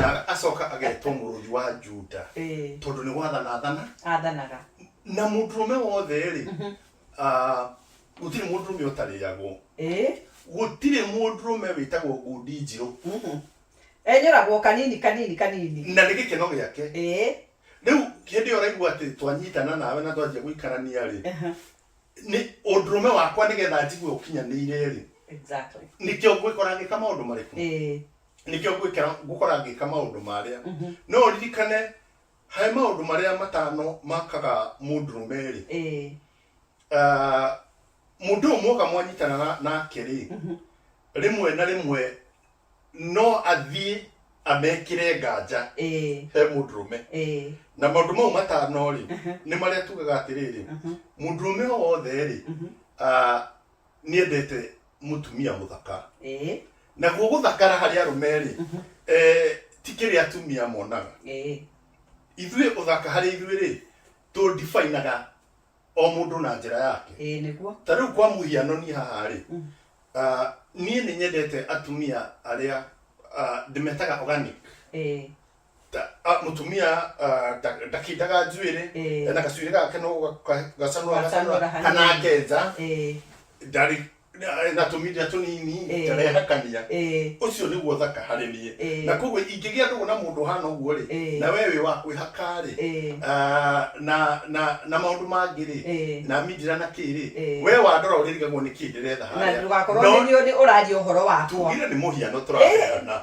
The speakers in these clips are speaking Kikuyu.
na acoka agetwo mũrũthi wa juda Eh, tondũ nĩ gwathana athana athanaga na mũndũrũme wothe-rĩ ah, gũtirĩ mũndũrũme ũtarĩagwo Eh, gũtirĩ mũndũrũme wĩtagwo ngundi njirũ mhm. enyũragwo kanini kanini kanini na nĩ gĩkeno gĩake Eh, rĩu hĩndĩ ĩyo ũraigua atĩ twanyitana nawe na twanjia gũikarania-rĩ aha, nĩ ũndũrũme wakwa nĩgetha njigue ũkinyanĩire-rĩ exactly nĩkĩo ngwĩkora ngĩka maũndũ marĩkũ Eh, nĩkĩo ngwĩkĩra ngũkora ngĩka maũndũ marĩa no ũririkane harĩ maũndũ marĩa matano makaga mũndũrũme-rĩ Eh, Ah, mũndũ ũyũ mwoka mwanyitana na- nake-rĩ rĩmwe na rĩmwe no athiĩ amekĩre nganja eh, he mũndũrũme eh, na maũndũ mau matano-rĩ nĩ marĩa tugaga atĩrĩrĩ mũndũrũme o wothe-rĩ ah, nĩendete mũtumia mũthaka ĩĩ naguo gũthakara harĩ arũme rĩ Mhm. eh, ti kĩrĩ atumia monaga ĩĩ ithuĩ ũthaka harĩ ithuĩ rĩ tũndibainaga o mũndũ na njĩra yake ĩĩ nĩguo ta rĩu kwa mũhiano niĩ haha rĩ Mm. ah, niĩ nĩ nyendete atumia arĩa ah, ndĩmetaga organic ĩĩ Ta- ah, mutumia ah, nda- ndakita katswire Eh. ena kaswire kake nokasanura Kasanura hanini. kanaketsa Eh, ndari natumire tunini Eh. ndarehakania eh, ucio niguo thaka harä niä Eh. na koguo ingä gä a ndå na må ndå hana å guo rä Eh. na we wä wa kwä haka rä eh, Ah, na na na maundu mangi ri Eh. na mindira na kiri Eh. we wandora uririgagwo ni kindiretha na ndũgakorwo nĩ nĩ ũraria ũhoro wakwa tugire ni muhiano turaheana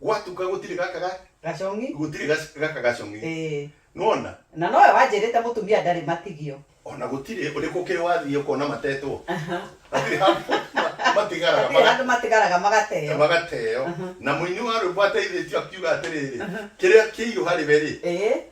Gwatuka gũtirĩ gaka ga- gacong'i gũtirĩ gac- gaka gacong'i. Ĩĩ. Nĩwona? na nowe wanjĩrĩte mũtumia ndarĩ matigio Ona gũtirĩ ũrĩkũ ũkĩrĩ wathiĩ ũkona matetwo. Aha. Hatirĩ handũ ma- matigaraga Hatirĩ maga- handũ matigaraga magateo magateo. Na mũini wa rwĩmbo ateithĩtio akiuga atĩrĩrĩ, kĩrĩa kĩirũ harĩ we-rĩ, Ĩĩ.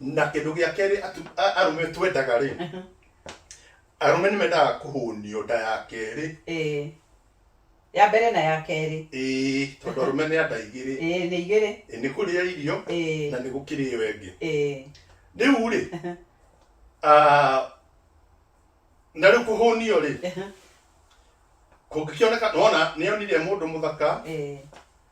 na kĩndũ gĩa kerĩ atu- a- arũme twendaga rĩ Aha. arũme nĩ mendaga kũhũnio nda ya kerĩ Eh. ya mbere na ya kerĩ ĩĩ tondũ arũme nĩ anda igĩrĩ Eh, nĩ igĩrĩ Ĩ, nĩ kũrĩa irio Eh, na nĩ gũkĩrĩ ĩyo ĩngĩ eh. rĩu rĩ ah, na rĩu kũhũnio rĩ Aha. kũngĩkĩoneka nona nĩonire mũndũ mũthaka Eh,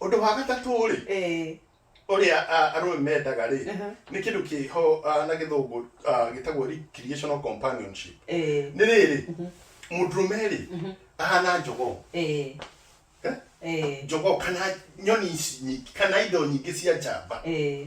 Ũndũ wa gatatũ-rĩ, Eh, ũrĩa ah, arũme mendaga-rĩ, Aha. nĩ kĩndũ kĩho ah, na gĩthũngũ ah, gĩtagwo recreational companionship. eh, Nĩ rĩrĩ, mũndũrũme-rĩ, ahana njogoo. eh, Eh? eh, Njogoo kana nyoni ici nyingĩ, kana indo nyingĩ cia njamba. eh,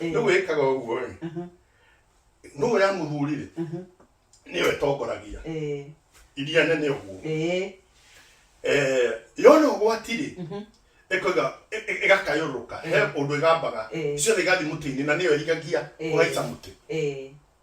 Ĩĩ. rĩu wĩkaga ũguo rĩ Mhm, nũ ũrĩa mũthuri rĩ mhm. nĩyo ĩtongoragia Ĩĩ, iria nene ũguo ĩĩ, Eh, yona ũgwati rĩ mhm. ĩkoiga ĩ- ĩ- ĩgakayũrũrũka he ũndũ ĩgambaga Ĩĩ. ciothe igathiĩ mũtĩ-inĩ na nĩyo ĩrigagia Ĩĩ. ũgaica mũtĩ Ĩĩ,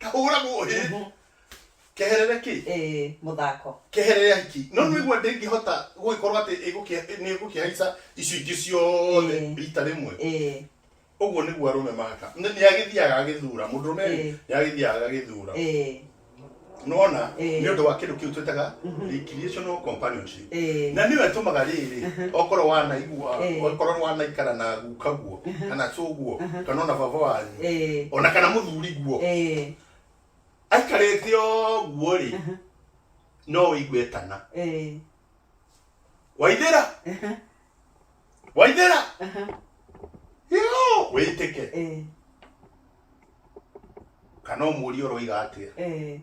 kahũragwo hĩ Mhm. keherere kĩ Ĩĩ, mũthako keherere ya hiki no nĩ igua ndĩngĩhota gũgĩkorwo atĩ ĩgũkĩa- nĩ ĩgũkĩhaica icio ingĩ ciothe Ĩĩ. rita rĩmwe Ĩĩ, ũguo nĩguo arũme mahaka Nĩ- nĩ agĩthiaga agĩthura mũndũrũme Ĩĩ. nĩ agĩthiaga agagĩthura ĩĩ. nona Ĩĩ. nĩ ũndũ wa kĩndũ kĩu twĩtaga recreational companionship Eh. na nĩwe tũmaga rĩrĩ okorwo wanaigua Eh. okorwo wanaikara na guka guo kana cũguo kana ona baba wanyu Eh. ona kana mũthuri guo Eh. aikarĩte ũguo rĩ no ũigue etana Eh. waithĩra waithĩra yo wĩtĩke Eh. kana ũmũrie ũroiga atĩa Eh.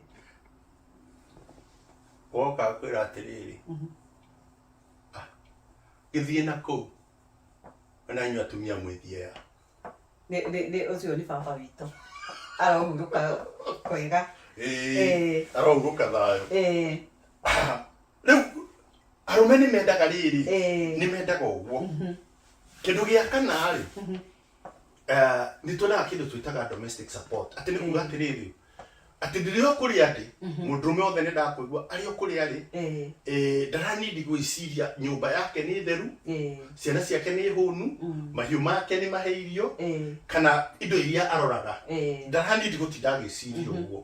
woka kwĩra atĩrĩrĩ "Ah, gĩthiĩ na kũu wena inyuĩ atumia mwĩthiea Nĩ- nĩ- nĩ- ũcio nĩ baba witũ arohurũka kwega Ĩĩ, Ĩĩ. arohurũka thayũ Ĩĩ, rĩu arũme nĩ mendaga rĩrĩ Ĩĩ. nĩ mendaga ũguo kĩndũ gĩa kana rĩ eh, nĩ tuonaga kĩndũ twĩtaga domestic support atĩ nĩ kuga atĩrĩrĩ atĩ ndĩrĩ o kũrĩa ndĩ mũndũrũme wothe nĩ ndakũigua arĩ o kũrĩa arĩ Eh, eh, ndaranindi gwĩciria nyũmba yake nĩ theru eh, ciana ciake nĩ hũnu mahiũ make nĩ mahe irio eh, kana indo iria aroraga eh. ndaranindi gũtinda agĩciria ũguo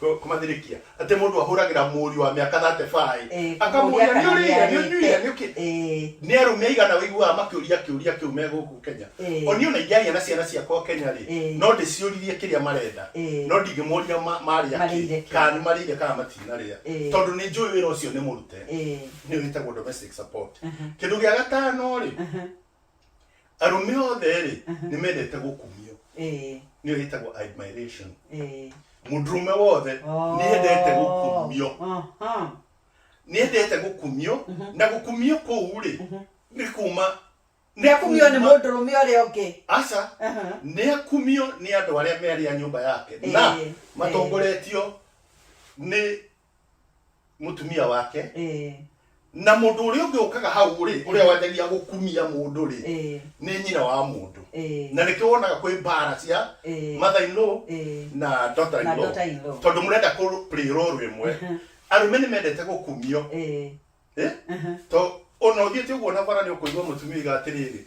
Kũ- kũmathirĩkia atĩ mũndũ ahũragĩra mũriũ wa mĩaka 35 Eh, akamũria kũmũria nĩ kana ũrĩire nĩ ũnyuire nĩ ũkĩ Eh, nĩ arũme aigana wĩiguaga makĩũria kĩũria kĩu me gũkũ kenya Eh. o niĩ ona ingĩaria na ciana ciakwa kenya rĩ Eh. no ndĩciũririe kĩrĩa marenda Eh. no ndingĩmoria ma- marĩa Marĩire kĩ kĩ. kana nĩ marĩire kana matinarĩa Eh. tondũ nĩ njũĩ wĩra ũcio nĩ mũrute eh, nĩ wĩtagwo domestic support kĩndũ gĩa gatano rĩ arũme othe rĩ nĩ mendete gũkumio Eh, nĩ ĩtagwo admiration eh. mũndũrũme wothe nĩ endete gũkumio Oh, aha. nĩ endete gũkumio na gũkumio kũu rĩ nĩ kuma nĩ akumio nĩ kuma- mũndũrũme ũrĩa ũngĩ aca Aha. nĩ akumio nĩ andũ arĩa merĩ a nyũmba yake na Eh, matongoretio nĩ mutumia wake eh na mundu uri ungi ukaga hau ri uria wanjagia gukumia mundu ri eh ni nyina wa mundu eh na nikio wonaga kwi mbara cia eh mother in law eh na daughter in na law daughter in law tondu murenda ku play role imwe arume ni mendete gukumio eh eh to ona uthiete uguo na bara ni ukuigwa mutumia iga atiriri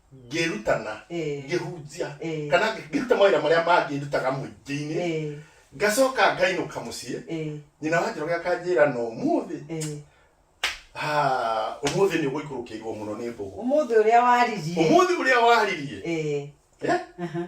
ngĩrutana Eh. ngĩhunjia Eh. kana ngĩ- ngĩruta mawĩra marĩa mangĩ ndutaga mũingĩ-inĩ Eh, ngacoka ngainũka mũciĩ eh, nyina wa njoroge akanjĩra no ũmũthĩ eh. ah, ũmũthĩ nĩ ũgũikũrũkĩirwo mũno nĩ mbũgũ Ũmũthĩ ũrĩa waririe. ũmũthĩ ũrĩa waririe Eh, Eh? aha.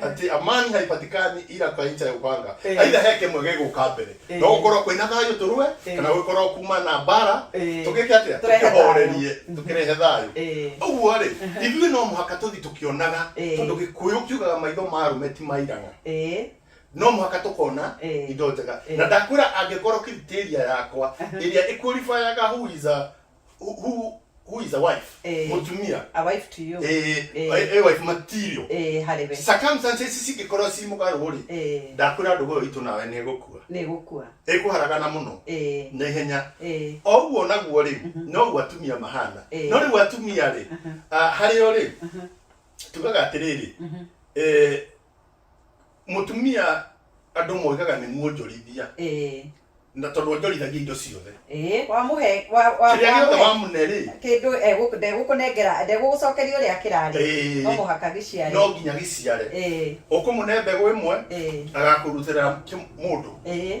atĩ amani haipatikani ila kwa ncha ya upanga Eh. aitha he kĩmwe gĩgũka mbere Eh. no gũkorwo kwĩna thayũ tũrue Eh. kana gũkorwo kuma na mbara Eh. tũgĩke atĩa Tũrehe thayũ. tũkĩhorerie tũkĩrehe thayũ Eh. ũguo rĩ ithuĩ no mũhaka tũthi tũkĩonaga Eh. tondũ gĩkũyũ kiugaga maitho ma arũme ti mairanga Eh. no mũhaka tũkona Eh. indo njega Eh. na ndakwĩra angĩkorwo kithitiria yakwa ĩrĩa ĩkualibayaga who is a who, who, who is a wife Eh. mutumia a wife to you eh, Eh. a- a wife material eh harebe circumstances cingĩkorwo ci mũgarũ rĩ eh ndakwĩra ndũgũ ĩyo itũ nawe nĩ ĩgũkua nä gå kua ĩkũharagana mũno eh na ihenya eh o ũguo naguo rĩ no ũguo atumia mahana Eh. no rĩu atumia rĩ ah, harĩ o rĩ tugaga atĩrĩrĩ eh, Mũtumia andũ moigaga nĩ muonjorithia eh na tondũ onjorithagia indo ciothe eh wamũhe wa- wa- kĩrĩa gĩothe wamũhe wamune rĩ kĩndũ egũkũ- ndegũkũnengera ndegũgũcokeria ũrĩa kĩrarĩ Eh. no mũhaka gĩciare no nginya gĩciare eh ũkũmũne mbegũ ĩmwe eh agakũrutĩra kĩ- mũndũ eh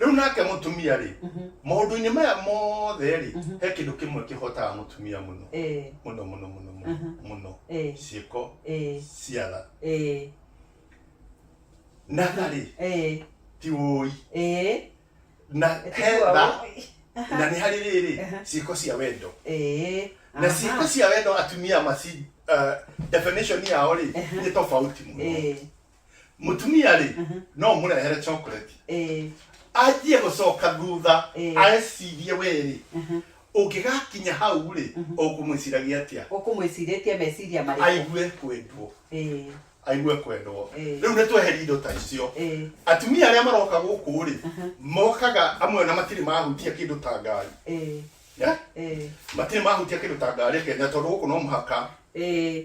rĩu nake mũtumia rĩ maũndũ-inĩ maya mothe rĩ he kĩndũ kĩmwe kĩhotaga mũtumia mũno Eh, mũno mũno mũno mũno Aha. mũno Eh. ciĩko eh, cia tha eh, na tha rĩ eh, ti wũi eh, na he Tiwa tha wũi. na nĩ harĩ rĩrĩ Aha. ciĩko cia wendo eh, na aha. ciĩko cia wendo atumia maci uh, definition yao rĩ Aha. nĩ tofauti mũno Eh, mutumia rĩ Mhm. no mũrehere chocolate Eh, anjie gũcoka thutha Eh. arecirie wĩrĩ mhm. ũngĩgakinya hau rĩ Mhm. ũkũmwĩciragia atĩa ũkũmwĩcirĩtie meciria marĩkũ aigue kwendwo Eh, aigue kwendwo Eh. rĩu nĩ tweheria indo ta icio eh, atumia arĩa maroka gũkũ rĩ Mhm. mokaga amwe na matirĩ mahutia kĩndũ ta ngari eh, Yeah? eh, matirĩ mahutia kĩndũ ta ngari kenya tondũ gũkũ no mũhaka eh,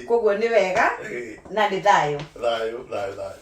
koguo nĩ wega Eh, na nĩ thayũ thayũ thayũ thayũ